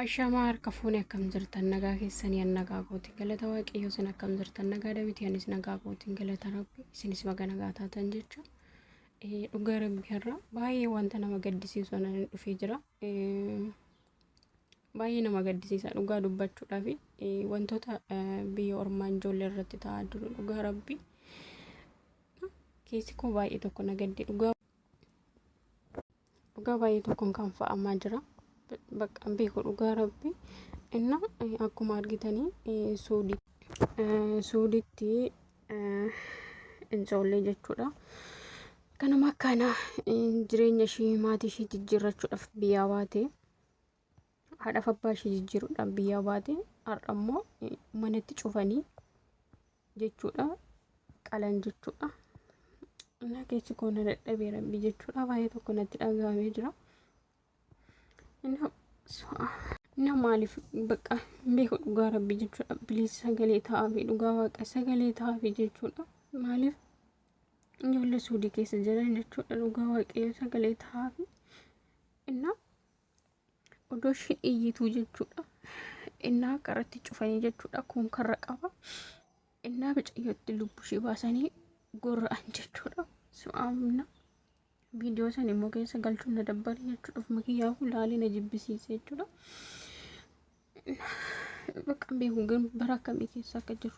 Ashamaa harka fuune akkam jirtan nagaa keessanii an nagaa kootiin galata waaqayyoo isin akkam jirtan nagaa dabitii anis nagaa kootiin galata rabbi isinis baga nagaa taatan jechuun dhugaa rabbi har'a baay'ee wanta nama gaddisiisu anan dhufee jira. Baay'ee nama gaddisiisa dhugaa dubbachuudhaaf wantoota biyya ormaa ijoollee irratti ta'aa jiru dhugaa rabbi keessi koo baay'ee tokko na gadde dhugaa dhugaa baay'ee tokkoon kan fa'amaa jira bakka beeku dhugaa rabbi inna akkuma argitanii suudii suuditti ijoollee jechuudha. Kanuma akkaana jireenya ishii maatii ishii jijjiirrachuudhaaf biyyaa baate haadhaaf abbaa ishee jijjiiruudhaan biyyaa baate har'a immoo manatti cufanii jechuudha qalan jechuudha innaa keessi koo na dadhabee rabbi jechuudha baay'ee tokko natti dhagahamee jira innaa maaliif bakka beeku dhugaa rabbi jechuudha biliis sagalee ta'aafi dhugaa waaqa sagalee ta'aafi jechuudha maaliif ijoollee suudii keessa jiran jechuudha dhugaa waaqayyo sagalee ta'aafi innaa Odoo isheen iyyituu jechuudha. Innaa karatti cufanii jechuudha. Kun karra qaba. Innaa bicayyootti lubbuu ishee baasanii gorra'an jechuudha. Su'aamna viidiyoo san immoo keessa galchuun na dabbare jechuudha. Ofuma kiyyaa hulaalee na jibbisiise jechuudha. Bakka hin beeku garuu bara akkamii keessa akka jiru.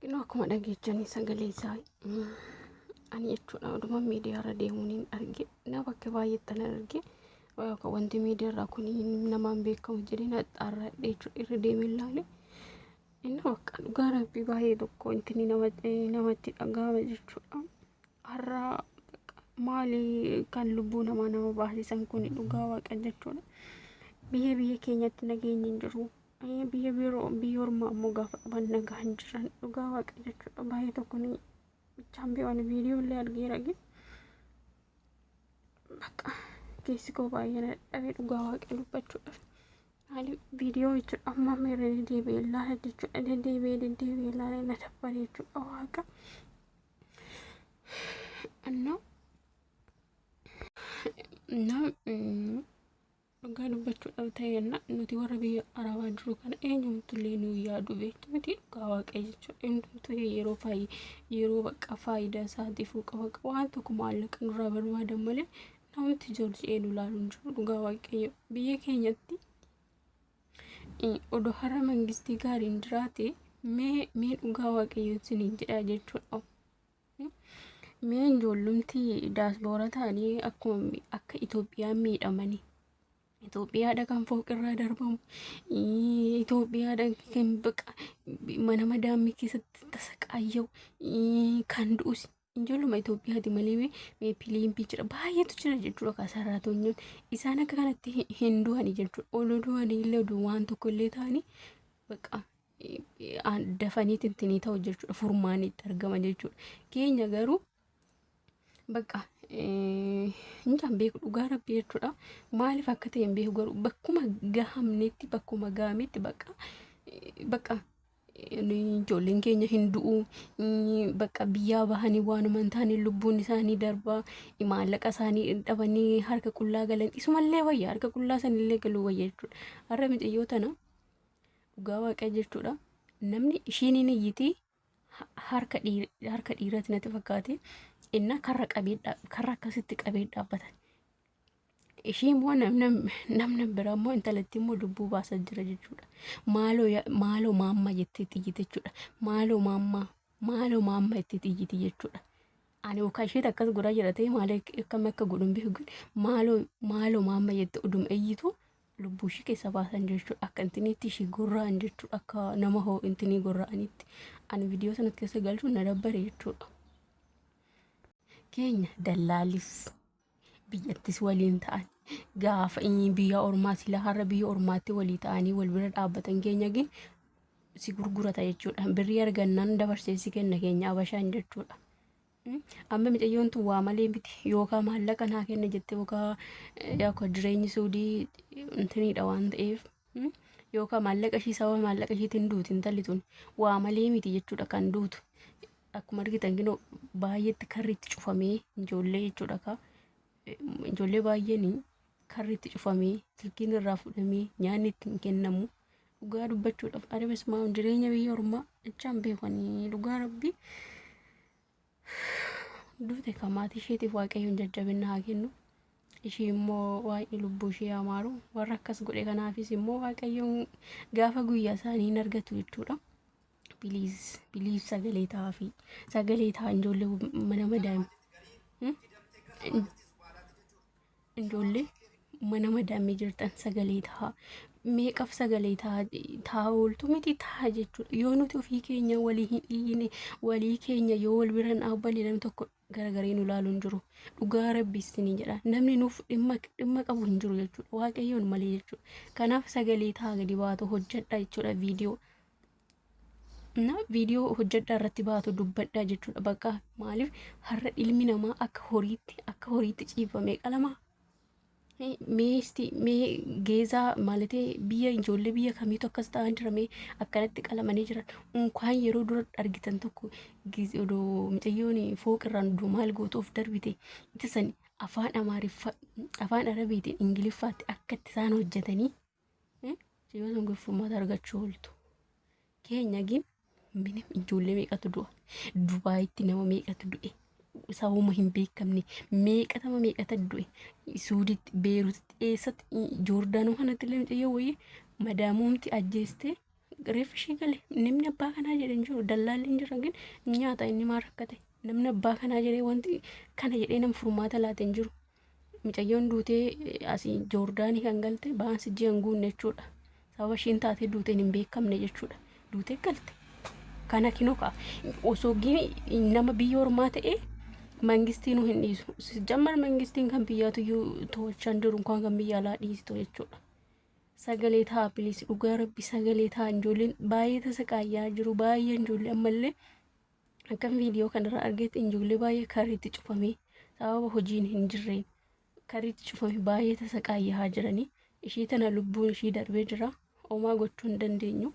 Kunoo akkuma dhageechanii sagalee isaa ani jechuudha oduma miidiyaa irra deemuun hin arge na bakka baay'eetti na arge yookaan wanti miidiyaa irraa kun namaan beekamu jedhee na xaarradhe jechuudha irra deemee ilaale inni bakka dhugaa rabbii baay'ee tokko wanti inni namatti namatti dhaga'ama jechuudha har'a bakka maali kan lubbuu namaa nama baasisan kun dhugaa waaqa jechuudha biyya biyya keenyatti nageenyi hin jiru Biyya biroo biyya ormaa ammoo gaafa dhugan nagaa hin jiran dhugaa waaqa jechuudha baay'ee tokko ni bichaan bee waan viidiyoo illee argee rage bakka keessi koo baay'ee na dadhabee dhugaa waaqa dubbachuudhaaf haalli viidiyoo jechuudha amma amma irra deddeebi'ee ilaala jechuudha deddeebi'ee deddeebi'ee ilaala na dabbare jechuudha waaqa እና እና Dhugaa dubbachuudhaaf ta'e jenna nuti warra biyya arabaa jiru kana eenyumtullee nu yaadu beektu miti dhugaa waaqayyo jechuudha. Eenyumtuu yeroo faayii yeroo bakka faayidaa isaatiifuu qaba waan tokko maallaqa nurraa barbaadan malee namatti joorji'ee nu laalu hin jiru dhugaa waaqayyo biyya keenyatti odoo har'a mangistii gaariin jiraate mee mee dhugaa waaqayyoon siniin jedhaa jechuudha. Mee ijoollumti daasboora ta'anii akkuma akka Itoophiyaan miidhamani. Itoophiyaadha kan fooqirraa darbamu. ii, Itoophiyaadha kan baqa mana madaamii keessatti tasaqaayya'u. ii, Kan du'us ijoolluma Itoophiyaati malee mee mee piliimpi jira baay'eetu jira jechuudha kan saraatonyoon. Isaan akka kanatti hin- hin du'ani jechuudha. Olu du'anii illee oduu waan tokko illee ta'anii baqa dafanii tintinii ta'u jechuudha furmaanni itti argama jechuudha keenya garuu bakka mucaan beeku dhugaa rabbi jechuudha maaliif akka ta'e hin beeku garuu bakkuma gahamnetti bakkuma gahametti bakka bakka ijoolleen keenya hin du'u bakka biyyaa bahanii waanuma hin taane lubbuun isaanii darbaa maallaqa isaanii dhabanii harka qullaa galan isumallee wayya harka qullaa sanillee galuu wayya jechuudha har'a micayyoo tana dhugaa waaqaa jechuudha namni ishiin hin iyyiti ha- harka dhiir- harka dhiiraati natti fakkaate innaa karra qabee dha- karra akkasitti qabee dhaabbatan ishii immoo namna namna biraa immoo intalattii immoo lubbuu baasaa jira jechuudha maaloo ya- maaloo maamma jettee xiyyiti jechuudha maaloo maamma maaloo maamma jettee xiyyiti jechuudha ani ukaa isheet akkas godhaa jira ta'e maal akkam akka godhun beeku maaloo maaloo maamma jette udum iyyitu lubbuu ishii keessa baasan jechuudha akka intiniitti ishii gorra'an jechuudha akka nama hoo intinii gorra'anitti ani viidiyoo sanatti keessa galchuun na dabbare jechuudha. Keenya dallaalis biyyattis waliin ta'an gaafa inni biyya ormaa sila har'a biyya ormaatti walii ta'anii wal bira dhaabbatan keenya gin si gurgurata jechuudha birrii argannaan dabarsee si kenna keenya abashaan jechuudha. Amma micayyoon tun waa malee miti yookaan maallaqa naa kenna jette yookaan akka jireenyi suudii intiniidha waan ta'eef yookaan maallaqa ishii sababa maallaqa ishiitiin duuti intalli tun waa malee miti jechuudha kan duutu akkuma argitan ginoo baay'eetti karri itti cufamee ijoollee jechuudha ka ijoollee baay'een karri itti cufamee silkiin irraa fudhamee nyaanni itti hin kennamu dhugaa dubbachuudhaaf adabasumaa jireenya biyya ormaa jechaan beekanii dhugaa rabbii duute kan maatii isheetiif waaqayyoon jajjabinna haa kennu ishii immoo waaqni lubbuu ishee haa maaru warra akkas godhe kanaafis immoo waaqayyoon gaafa guyyaa isaanii hin argatu jechuudha. Biliis biliis sagalee ta'aa fi sagalee ta'aa ijoollee mana madaa'ima. Ijoollee mana madaamii jirtan sagalee tahaa meeqaf sagalee tahaa ooltu miti tahaa jechuudha. Yoo nuti ofii keenya walii hin iyyine walii keenya yoo wal bira hin dhaabbanne namni tokko garagaree nu laalu hin jiru. Dhugaa rabbi isinii jedha. Namni nuuf dhimma dhimma qabu hin jiru jechuudha. Waaqayyoon malee jechuudha. Kanaaf sagalee tahaa gadi baatu hojjedha jechuudha viidiyoo. na viidiyoo hojjedhaa irratti baatu dubbadhaa jechuudha bakka maaliif har'a ilmi namaa akka horiitti akka horiitti ciifame qalama meesti mee geezaa maalatee biyya ijoollee biyya kamiitu akkas ta'an jira mee akkanatti qalamanii jiran unkaan yeroo dura argitan tokko giz- odoo mucayyoon fooqirraan odoo maal gootu of darbite itti san afaan amaariffa afaan arabiitiin ingiliffaatti akka itti isaan hojjetanii Yoo sun gurfummaata argachuu ooltu. Keenya gin minim ijoollee meeqatu du'a. Dubaayitti nama meeqatu du'e. Sabuma hin beekamne meeqatama meeqata du'e. Suuditti, Beerutitti, eessatti Joordaanoo kanatti illee mucayyoo wayii madaamuumti ajjeestee reeffi ishee gale. Namni abbaa kanaa jedhe hin jiru. Dallaalli hin jira gin nyaata inni maa rakkate. Namni abbaa kanaa jedhee wanti kana jedhee nam furmaata laate hin jiru. Micayyoon duutee asii Joordaanii kan galte baansi ji'a hin guunne jechuudha. Sababa ishiin taatee duuteen hin beekamne jechuudha. Duutee galte. Kana kinoka osoo nama biyya ormaa ta'e mangistii nu hin dhiisu. Sijjammar mangistiin kan biyyaatu iyyuu to'achaan jiru kan kan biyya alaa dhiistu jechuudha. Sagalee ta'a bilis dhugaa rabbi sagalee ta'a ijoolleen baay'ee tasa qaayyaa jiru baay'een ijoollee ammallee Akkan viidiyoo kanarraa argetti ijoollee baay'ee karriitti cufamee sababa hojiin hin jirreen karriitti cufamee baay'ee tasa qaayyahaa jiranii ishii tana lubbuun ishii darbee jira omaa gochuu hin dandeenyu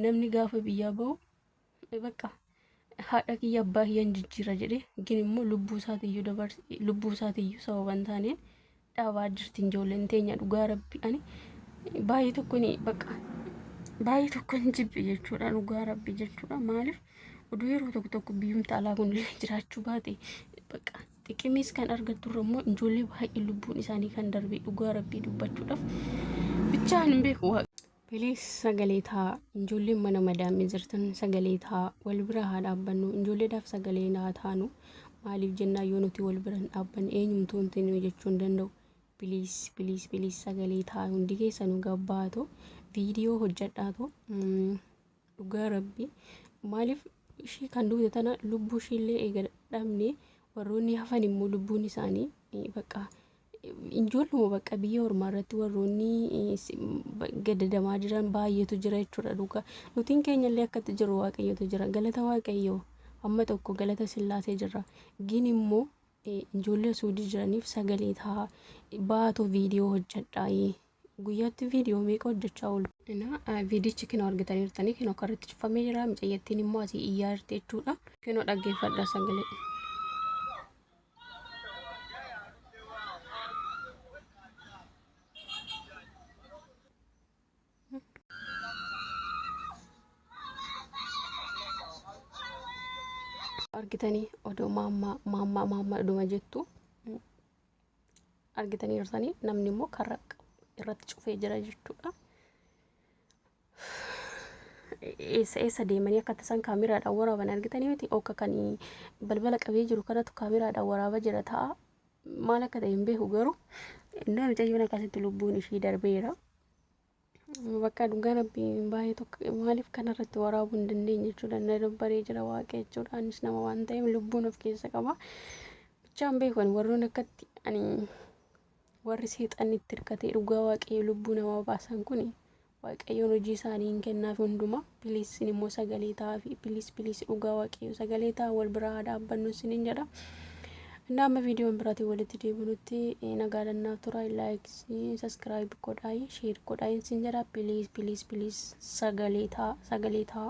namni gaafa biyyaa bahu bakka haadha kiyya abbaa kiyyan jijjiira jedhe gin immoo lubbuu isaatiyyuu dabarse lubbuu isaatiyyuu sababa hin taaneen dhaabaa jirti ijoolleen teenya dhugaa rabbi ani baay'ee tokko ni bakka baay'ee tokko hin jibbe jechuudha dhugaa rabbi jechuudha maaliif oduu yeroo tokko tokko biyyumta alaa kun illee jiraachuu baate bakka xiqimiis kan argattu irra immoo ijoollee baay'ee lubbuun isaanii kan darbe dhugaa rabbii dubbachuudhaaf bichaan hin beeku Please sagalee ta'a ijoolleen mana madaamii jirtan sagalee ta'a wal bira haa dhaabbannu ijoolleedhaaf sagalee naa taanu maaliif jennaa yoo nuti wal bira hin dhaabbanne eenyumtuu wanti nuyi jechuu hin danda'u piliis piliis piliis sagalee ta'a hundi keessanuu gabbaatu viidiyoo hojjedhaatu dhugaa rabbii maaliif ishii kan duute tana lubbuu ishiillee eega dhabne warroonni hafan immoo lubbuun isaanii eh, bakka injoolluma bakka biyya ormaa irratti warroonni eh, si- ba- gadadamaa jiran baay'eetu jira jechuudha dhugaa nutiin keenyallee akkatti jiru waaqayyotu jira galata waaqayyoo amma tokko galata sillaasee jirra gin immoo eh, ijoollee suudii jiraniif sagalee ta'a baatu viidiyoo hojjedhaa eh, Guyyaatti viidiyoo meeqa hojjechaa ooltu? Ina viidichi kinoo argitaniirtanii kinoo karratti cufamee jira micayyattiin immoo asii iyyaa jirti jechuudha. Kinoo dhaggeeffadha sagalee. argitanii odoo maammaa maammaa maammaa dhuma jettu argitanii jirtanii namni immoo karra irratti cufee jira jechuudha. Eessa eessa deemanii akka tasan kaameraadhaan waraaban argitanii miti akka kan balbala qabee jiru kanatu kaameraadhaan waraaba jira ta'a maal akka ta'e hin beeku garuu innaa mucayyoon akkasitti lubbuun ishii darbeera. Bakka dhugaa rabbii baay'ee tokko maaliif kanarratti waraabuu hin dandeenye jechuudha. Na dabbaree jira waaqa jechuudha. Anis nama waan ta'eef lubbuun of keessa qaba. Bichaan beekan warroon akkatti ani warri seexanni itti hirkatee dhugaa waaqayyo lubbuu namaa baasan kun waaqayyoon hojii isaanii hin kennaaf hundumaa. Please sin immoo sagalee ta'aafi please please dhugaa waaqayyo sagalee ta'a wal biraa haa dhaabbannu sinin jedha. Innaa amma viidiyoon biraatiin walitti deebinutti eh, nagaa dannaaf tura like subscribe godhaayi share godhaayi sin jedha please please please sagalee ta'a sagalee ta'a.